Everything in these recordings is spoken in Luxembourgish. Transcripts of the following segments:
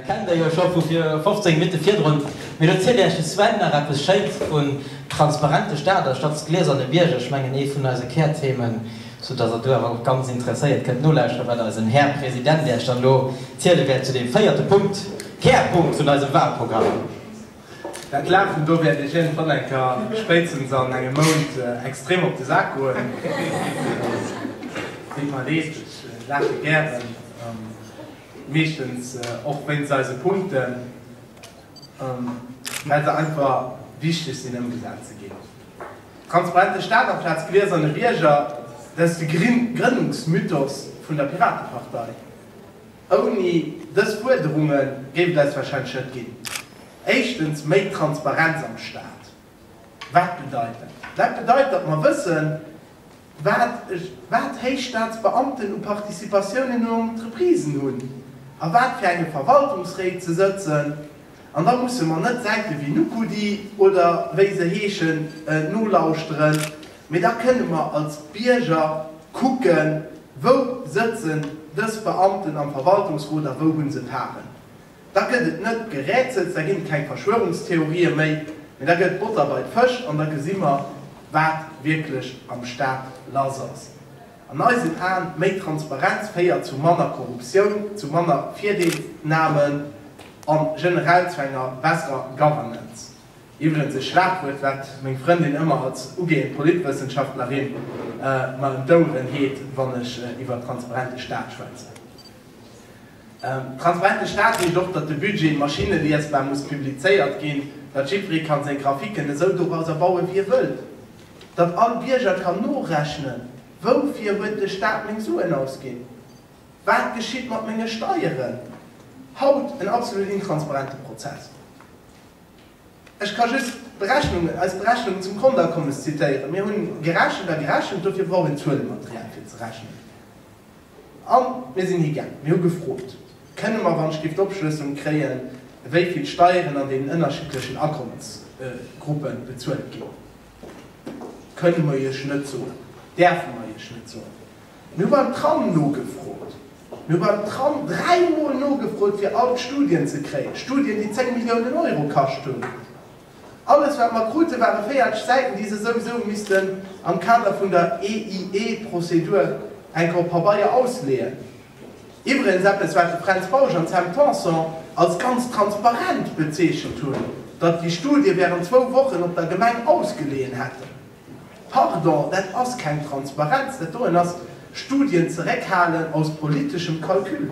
Kennt der jo scho vu fir 15 Minutten virdrun. Mee lo zielt äech de Sven nach eppes schéins vun transparente Stader statt s glieserne Bierger. Ech mengen ee vun eise Kärthemen, sou dass der do awer och ganz interesséiert kënnt nolauschteren wat eisen Här President äech dann lo ziele wäert zu deem véierte Punkt, Kärpunkt vun eisem Wahlprogramm. Dat Laachen do wäert iech iergendwann eng Kéier, spéitstens an engem Mount, extrem op de Sak goen. Dir verdeet, ech laache gären, meeschtens och wéinst eise Punkten, well se einfach wichteg sinn ëmgesat ze ginn. Transparente Staat amplaz gläserne Bierger, dat ass de Grënnungsmythos vun der Piratepartei. Ouni dës Fuerderunge géif et eis warscheinlech net ginn. Éischtens méi Transparenz am Staat. Wat bedeit dat? Dat bedeit, datt mer wëssen, wat héich Staatsbeamten u Participatiounen u Entreprisen hunn, a wat fir enge Verwaltungsréit se sëtzen. An da musse mer net Säite wéi Nukudi oder wéi se heeschen nolauschteren. Mee da kënne mer als Bierger kucken, wou sëtzen dës Beamten am Verwaltungsrot a wou hu se Paren. Da gëtt et net Gerätsels, da ginn et keng Verschwörungstheorië méi, mee da gëtt et Botter bei d'Fësch an da gesi mer, wat wierklech am Staat lass ass. An eisen Aen, méi Transparenz féiert zu manner Korruptioun, zu manner Virdeelsnamen an generell zu enger besserer Governance. Iwwregens e Schlagwuert, wat meng Frëndin ëmmer als ugehend Politwëssenschaftlerin mer ëm d'Oueren heet, wann ech iwwer transparente Staat schwätzen. Transparente Staat heescht och, datt de Budget maschineliesbar muss publizéiert ginn, datt jiddweree kann seng Graphiken esou dorauser bauen, wéi e wëllt, datt all Bierger kann norechnen, Woufir huet de Staat meng Suen ausginn? Wat geschitt mat menge Steieren? Haut en absolut intransparente Prozess. Ech ka just d'Berechnungen, eis Berechnungen zum Konteakommes zitéieren. Mir hunn gerechent a gerechent, dofir brauch een Zuelematerial fir ze rechnen. A mir sinn higaangen, mir hu gefrot, Kënne mer, wann ech géif d'Opschlësselung kréien, wéi vill Steieren an deenen ënnerschiddlechen Akommesgruppe bezuelt ginn? Kënne mer Iech net soen, däerfe mer Iech net soen. Mir hu beim Tram nogefrot. Mir hu beim Tram dräi Mol nogefrot, fir all d'Studien ze kréien, Studien, déi 10 Milliounen Euro kascht hunn. Alles, wat mer krute, ware véierteg Säiten, déi se souwisou missten am Kader vun der EIE-Prozedur enk op Pabeier ausleeën. Iwwregens eppes, wat de Fränz Bausch an d'Sam Tanson als ganz transparent bezeechent hunn, datt déi Studie wärend zwou Wochen op der Gemeng ausgeleeën hätten. Pardon, dat ass keng Transparenz, dat doen ass Studien zeréckhalen aus politeschem Calcul.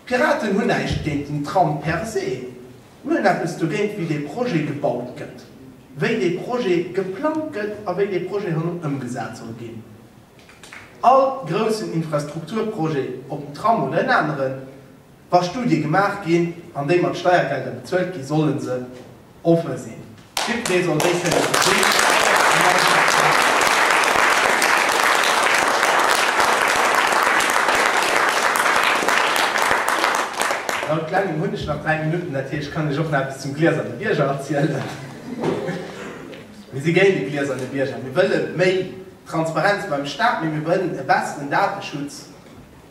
D'Piraten hunn näischt géint den Tram per se, mir hunn eppes dogéint, wéi dee Projet gebaut gëtt, wéi dee Projet geplangt gëtt a wéi dee Projet herno ëmgesat soll ginn. All groussen Infrastrukturprojet, ob en Tram oder en aneren, wa Studie gemaach ginn an déi mat Steiergelder bezuelt ginn, solle se Offen sinn. D'Victmé soll déi kënne gesinn an eis erklären. Laut Klengem hunn ech nach 3 Minutten, dat heescht, kann ech och nach eppes zum Glieserne Bierger erzielen. Mir si géint e Glieserne Bierger. Mir wëlle méi Transparenz beim Staat, mee mir wëllen e besseren Dateschutz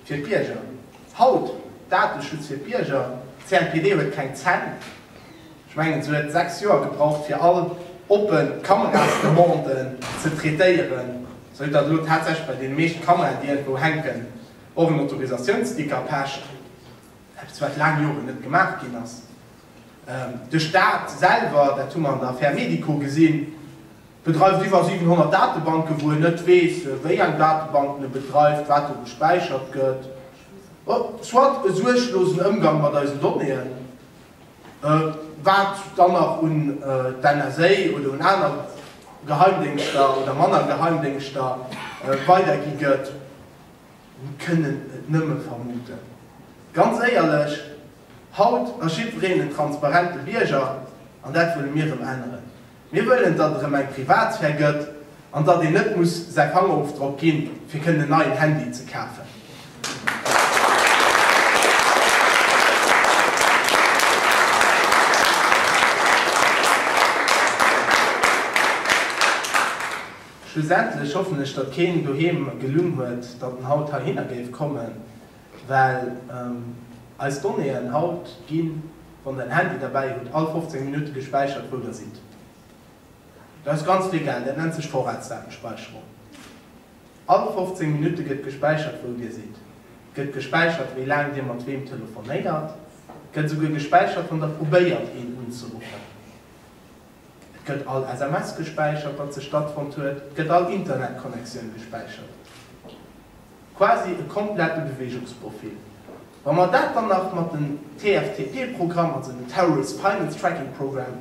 fir d'Bierger. Haut, Dateschutz fir d'Bierger, CNPD huet keng Zänn. Ech mengen se huet 6 Joer gebraucht fir all oppen Kamerasdemanden ze traitéieren, sou datt elo tatsächlech bei deene meescht Kameraen déi iergendwou hänken och en Autorisatiounssticker pecht, eppes wat laang Joren net gemaach ginn ass. De Staat selwer, dat hu mer an der Affaire Medico gesinn, bedreift iwwer 700 Datebanke wou en net weess wéi eng Datebanken e bedreift, wat do gespäichert gëtt, soit e suerglosen Ëmgang mat eisen Donnéeën. Wat dann nach un d'NSA oder un aner Geheimdéngschter oder manner Geheimdéngschter weidergi gëtt, mir kënnen et nëmme vermuten. Ganz éierlech, haut ass jiddwereen en transparente Bierger, an dat wëlle mir erëm änneren. Mir wëllen, datt et erëm eng Privatsphär gëtt an datt een net muss säi Fangerofdrock ginn, fir kënnen en neien Handy ze kafen. Schlussendlech hoffen ech, datt keen doheem gelunn huet, datt en haut heihinner géif kommen. Well eis Donnéeën haut ginn, wann der en Handy derbäi hutt, all 15 Minutte gespäichert, wou der sidd. Dat ass ganz vill Geld, dat nennt sech Vorratsdatenspeicherung. All 15 Minutte gëtt gespäichert, wou dir sidd, gëtt gespäichert, wéi laang dir mat weem telefonéiert, gëtt esouguer gespäichert, wann der probéiert, een unzeruffen. Et gëtt all SMS gespäichert, dat sech stattfonnt huet. Et gëtt all Internetconnectioun gespäichert. Quasi e komplette Beweegungsprofil. Wa mer dat dann nach mat den TFTP-Programm, also den Terrorist Finance Tracking Program,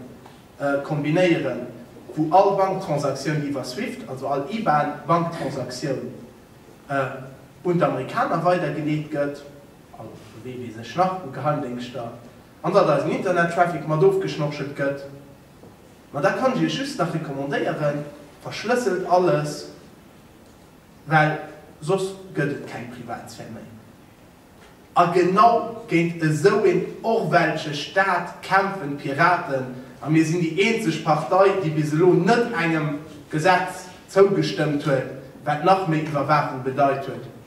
kombinéieren, wou all Banktransaktioun iwwer Swift, also all IBAN-Banktransaktioun, un d'Amerikaner weidergeleet gëtt, also wee weess ech nach u Geheimdéngschter, An datt eisen Internet-Traffic mat ofgeschnorchelt gëtt. Ma da kann ech iech just nach recommandéieren, verschlësselt alles, well soss gëtt et keng Privatsphär méi. A genau géint esou een orwellsche Staat kämpfen d'Piraten, a mir sinn déi eenzeg Partei, déi bis elo net engem Gesetz zougestëmmt huet, wat nach méi Iwwerwaachung bedeit huet.